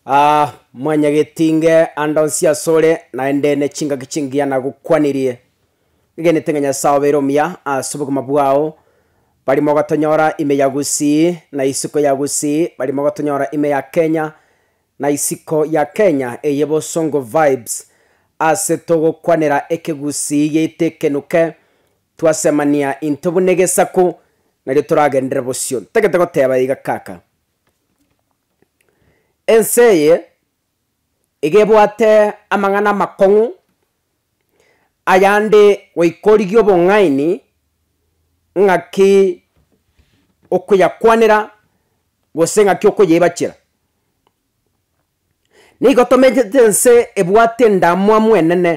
Aa, mwanyagetinge ande onsi asore, naende nechingaki chingiya nagokwanirie. Ngegenete ng'a Nyasae obeire omuya ase obogima bwao, bari mogotonyora ime ya Gusii na isiko ya Gusii, bari mogotonyora ime ya Kenya na isiko ya Kenya eye bosongo vibes. Ase togokwanera ekegusii geito ekenuke, twasemania into buna egesaku, nario toragenderere bosio. Ntagete goteba iga kaka. Ense eye iga ebwate amang'ana amakong'u, ayande goika origie obong'aini ng'aki okoyakwanera gose ng'aki okoyeibachera. Nigo tomenyete ense ebwate endamwamu enene.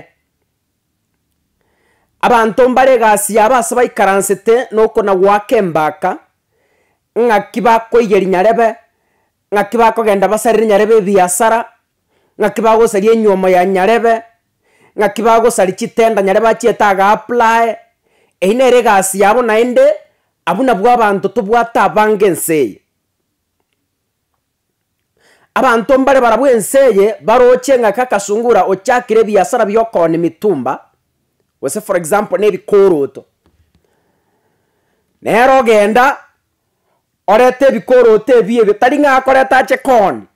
Abanto mbare egasi yabo ase baikaransete noko na goaka embaka, ng'aki bakoiyeria nyarebe, ng'aki bakogenda basarere nyarebe ebiasara, ng'aki bagosaria enywomo ya nyarebe, ng'aki bagosari chitenda nyare bachiete agaaplae, eyio nere egasi yabo naende, abwo nabwo abanto tobwate abange ense eye. Abanto mbare barabwo ense eye baroche ng'a Kakasungura ochakire ebiasara bi'okoona emitumba, gose for example na ebikoroto. Nere ogenda orete ebikoroto ebiya ebio tari ng'a akoreta ache kooni,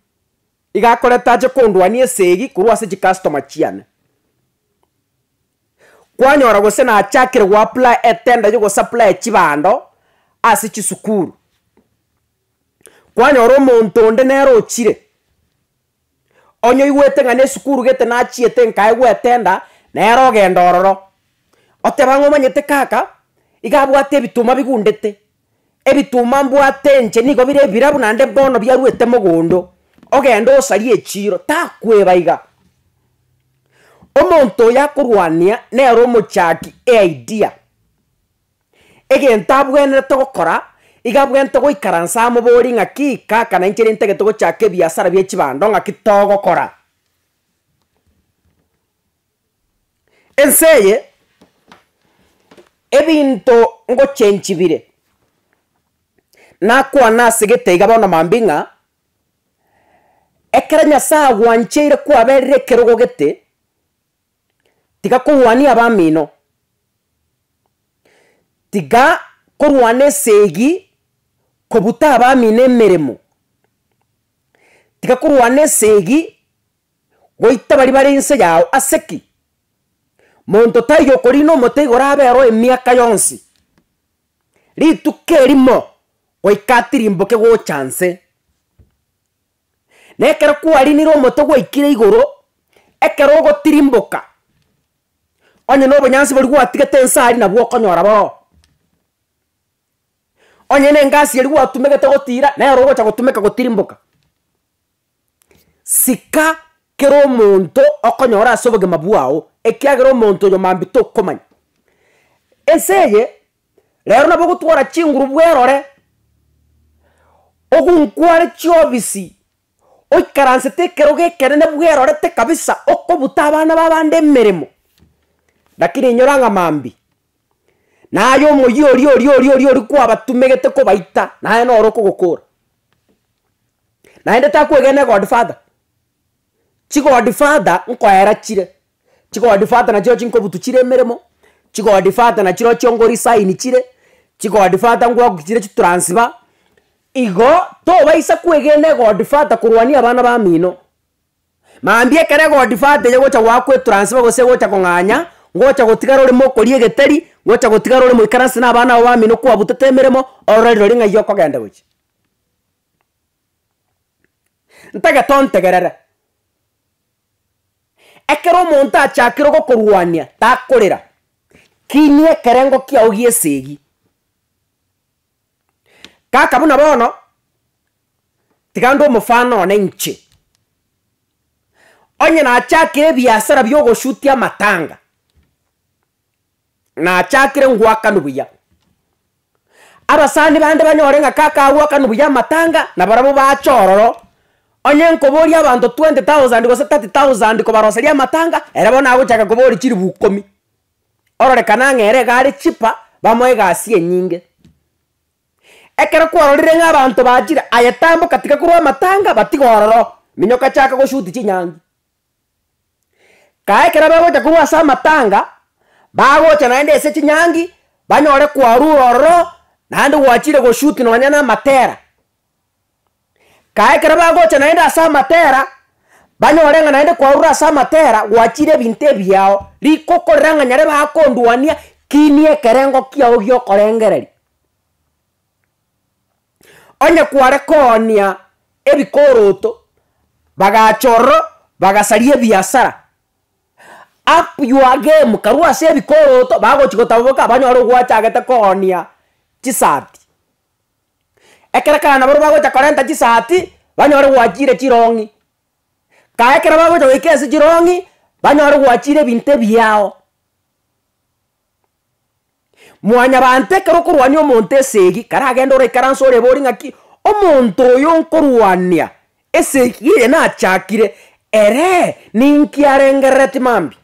iga akoreta ache kondwania esegi korwa ase chicustomer chiane. Kwanyora gose nachakire goapply etender ya ogosapply chibando ase chisukuru. kwanyora omonto onde nere ochire, onye oigwete ng'a nesukuru gete nachiete nkae gwetenda nere ogenda ororo, oteba ng'a omanyete kaka, iga abwate ebituma bigundete, ebituma mbwate inche nigo bire ebirabu naende bono biaruete mogondo, ogende osarie echiro, takweba iga. Omonto oyo akorwania nere omochaki eidea. egento abwenerete gokora, iga abwenerete goikaransa amobori ng'aki, Kaka nainchereri ntagete gochaka ebiasara bie chibando, ng'aki togokora? Ense eye, ebinto ngochengi bire, nakwane ase gete iga bono mambia ng'a, ekero Nyasae agwancheire kwaberire ekerogo gete, tiga korwania abamino, tiga korwana esegi kobuta abamino emeremo, tiga korwana esegi goita baria bare inse yao ase ki? Monto taiyo okorina omote igo orabe oroo emiaka yonsi. Rituko erimo goika tirimboke gocha nse. Na ekero kwarinire omote gwaikire igoro, ekero ogotirimboka, onye na obonyansi boria gwatigete ense aria nabwo okonyora boroo. Onye na engasi eria gwatumegete gotira, nero ogocha gotumeka gotirimboka. Sika kera omonto okonyora ase obogima bwao, ekiagera omonto oyo mambia tokomanya. Ense eye, Rero nabo ogotwara chinguru bwerore, ogonkware chiobisi, oikaransete ekerogo ekenene bwerorete kabisa, okobuta abana ba abande emeremo, lakini enyora ng'a mambia. Naye omoyia oria oria oria oria oria kwabatumegete kobaita, naye noro okogokora. Naende takwegena egodfather. chigodfather nkoera chire, chigodfather nachirochio nkobutu chire emeremo, chigodfather nachirochio ngo resign chire, chigodfather ngwaku chire chitransfer, igo tobaisa kwegena egodfather korwania abana bamino, mambia ekero egodfather egocha goakwa etransfer gose egocha kong'anya, ngocha gotigara ore mokori egeteri, ngocha gotigara ore moikaranse na abana abo bamino kwabutete emeremo, orore rirorio ng'ai okogenda gochia. Ntagete ontegerere. Ekero omonto achakire gokorwania takorera, kinia ekerengo kiao gi'esegi. Kaka buna bono, tiga ndue omofano one inche. Onye nachakire ebiasara bi'ogosutia amatanga. nachakire ngwakanu buya. Abasani bande banyore ng'a kaka agwakanu buya amatanga, nabarabwo bache ororo, onye nkoboria abanto twenty thousand gose thirty thousand kobaroseria amatanga, ere bono nagochaka koboria chilifu ikomi, ororekana ng'a ere iga are cheaper, bamoe egasi enyinge. Ekero kwarorire ng'a abanto bachire, aye tamboka tiga korwa amatanga, batiga ororo, minyoka chaka goshoot chinyangi, Kae ekero bagocha korwa ase amatanga, bagocha naende ase chinyangi, banyore kwarure ororo, naende gwachire go-shoot nonya na amatera. Kae ekero bagocha naende ase amatera, banyore ng'a naende kwarure ase amatera gwachire ebinto ebiya ao, riko okorera ng'a nyare bakondwania, kinie ekerengo kiao giokorengereria. Onye kware koonia ebikoroto, bagacha ororo bagasaria ebiasara. Up your game karwa ase ebikoroto bagochi gotaboboka banyore ogwachagete koonia chisati. Ekero kare nabarobwo bagocha korenta chisati, banyore gwachiire chirong'i, kae ekero bagocha goika ase chirong'i, banyore gwachiire ebinto ebiao. Mwanyabaanto ekero okorwania omonto esegi, karagende ore ikaranse orebori ng'aki, omonto oyo nkorwania esegi eye nachakire, eree ninki arengerereti mambia?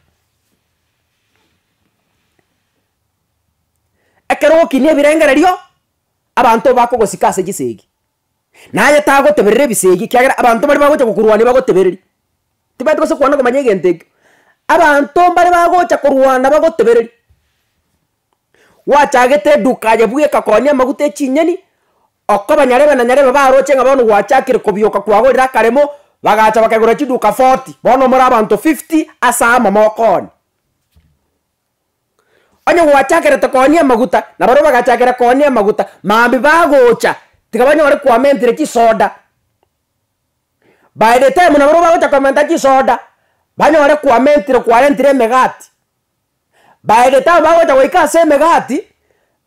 Ekero ogokinia ebirengererio, abanto bakogosika ase chisegi. naye tagoteberera ebisegi, ekiagera abanto baria bagocha gokorwania bagotebereria. Tibabati gose kwana komanya egento ekio, abanto mbaria bagocha korwana bagotebereria. Gwachagete eduka aye buya ekakoonia amaguta echinyeni, okoba nyarebe na nyarebe baroche ng'a bono gwachakire kobioka kwagorire akaremo, bagacha bakegora chiduka forty, bono more abanto fifty ase amamoko one. Onye gwachakerete koonia amaguta, na baria bagachakera koonia amaguta, mambia bagocha, tiga banyore koamentire chisoda. By the time na baria bagocha koamenta chisoda, banyore koamentire kwarentire emegati. By the time bagocha goika ase emegati,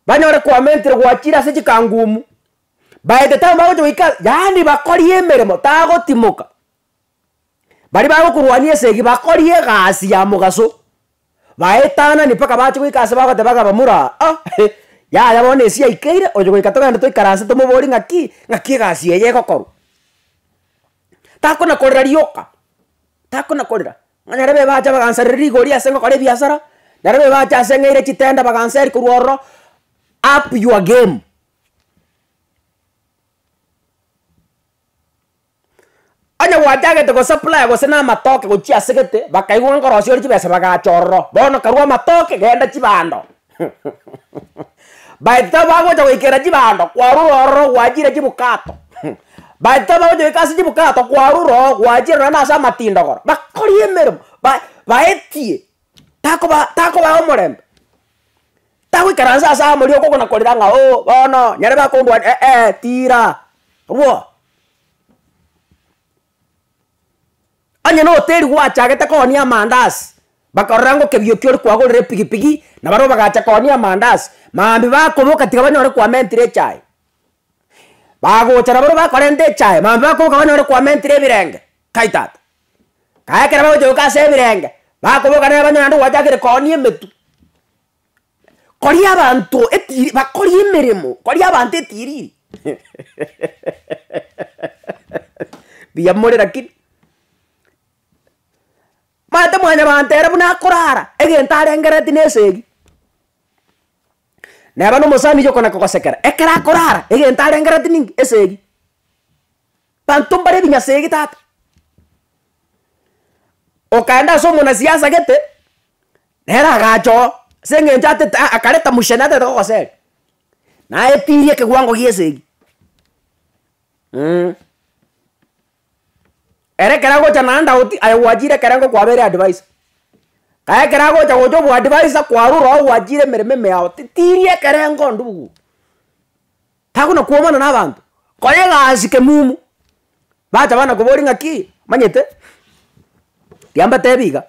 banyore koamentire gwachire ase chikangumu. By the time bagocha goika, yaani bakorie emeremo, tagotimoka. Baria bagokorwania esegi bakori egasi ya mogaso, baetanani mpaka bache goika ase bagoteba ng'a bamura ah eh, yaya bono na esia yaikeire, oyo goika togende toikaranse tomoborie ng'aki, ng'aki egasi eye egokorwa. Takona korera rioka, takona korera, ng'a nyarebe ebache bagansarera rigori ase ngokora ebiasara, nyarebe ebache ase ng'eire chitenda baganseri korwa ororo, up your game. Onye gwachagete gosupply gose na amatoke gochia ase gete, bakaigwa ng'a nkorosia ore chibesa bagacha ororo, bono karue amatoke genda chibando by the time bagocha goikera chibando kwarure ororo gwachire chibukato by the time bagocha goika ase chibukato kwarure oo gwachire nonye nase amatindogoro bakori emeremo ba baetie takoba takobaa omorembe, tagoikaransa ase amo rirogo okogana korera ng'a oo bono nyare bakondwa eeh tiira rwo. Onye na hoteli gwachagete koonia amandazi, bakarora ng'a ekebio ekio orikwagorera epigipigi na barobwo bagacha koonia amandazi, maambia bakoboka tiga banyare koamentire echae, bagocha na barobwo bakorenta echae, maambia bakoboka banyare koamentire ebirenge, kai tata. Naye ekero bagocha goika ase ebirenge, bakoboka na abanyene naende gwachakire koonia emetwe. Koria abanto etiiri bakorie emeremo, koria abanto etiiriri mbuya more lakini. Omanyete mwanyabanto ere buna akorara, egento arengereti na esegi, neba na omosani oyio okona kogosekera, ekero akorara egento arengereti ninki? Esegi. Banto mbare ebinyasa ege tata. Okaenda ase omona siasa gete, nere agacha oo, ase eng'encho atete aa akareta muchene atete gogoseri, naye etiiri ekewango gie esegi mh. Ere ekero agocha naende ago ti aye gwachire ekero engo kwabeire adviser, kae ekero agocha gocha oboadviser kwarure oo gwachire emeremo ime yao titiri ekero engo ndururu. Takona kwomana na abanto, kora egasi kemumu. Bacha bana kobori ng'aki, omanyete, rigia mbatebi iga,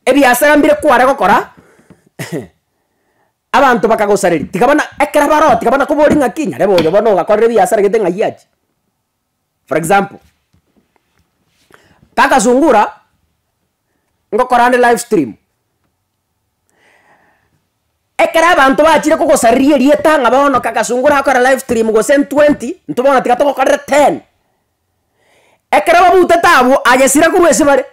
ebiasara mbire kware gokora, abanto bakagosareri, tiga bana ekero baroo tiga bana kobori ng'aki, nyarebe oyo bono ogakorire ebiasara gete ng'ai achi. For example, kakasungura, ngokora ande live stream, Ekero abanto bachire kogosariria erieta ng'a bono kagasongo rakore live stream gose ntwenty, intwe bono tiga togokorera ten. Ekero bamoutete abwo, agesira korwa ase bare,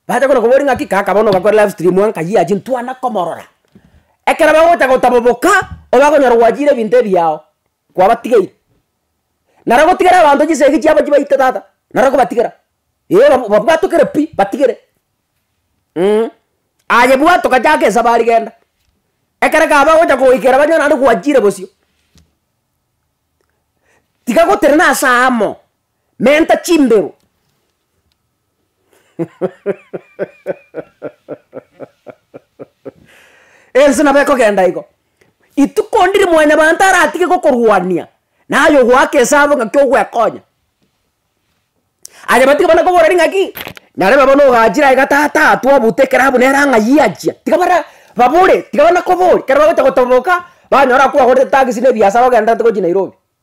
bacha kona koboria ng'aki kaka bono ogakora live stream aa nkayi ache ntwane komorora. Ekero bagocha gotaboboka, oba okonyora gwachire ebinto ebiao. kwabatigeire. Naro gotigera abanto chisegi chiabo chibaite tata, naro kobatigera, ee ba- babwatokere pi batigere mh. Aye bwato gachaka esabari genda, ekero kaba gocha goikera banywe naende gwachire bosio, tiga goterena ase amo. Menta chimberu. Ense nabo ekogenda igo. Rituko ndiri mwanyabanto aratige gokorwania, naye ogoaka esabu ng'aki ogwekonya. Aye batige bana kobora ri ng'aki, nyarebe bono ogachire aiga tata atwo abute ekero abwo nere ang'ayie achia. Tiga bara babore, tiga bana kobori, ekero bagocha gotoboka, banyora kwagorete tagisi na ebiasara ogendererete gochia Nairobi.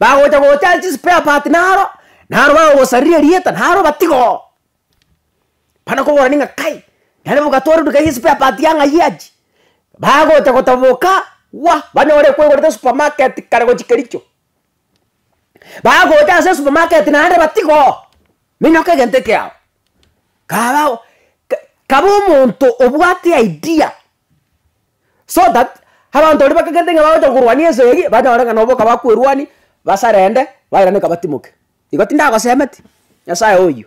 Bagocha gocha ase chispare part naro, naro bagogosariria erieta naro obatiga oo. Bana koborani ng'a kai, nere mogatwara odukai ya espare part ya ng'ai achi, bagocha gotoboka gwa, banyore ekwegorete supamaketi kare gochia kericho. Bagocha ase supamaketi naende batiga oo, minyoka egento eke yao. Kabao ka- kaba omonto obwate idea So that abanto baria bakagerete ng'a bagocha korwania ense eyio, banyore ng'a noboka bakwerwania, basarende, bairane'ka batimoke. Igo tindagosemeti, Nyasae oyio.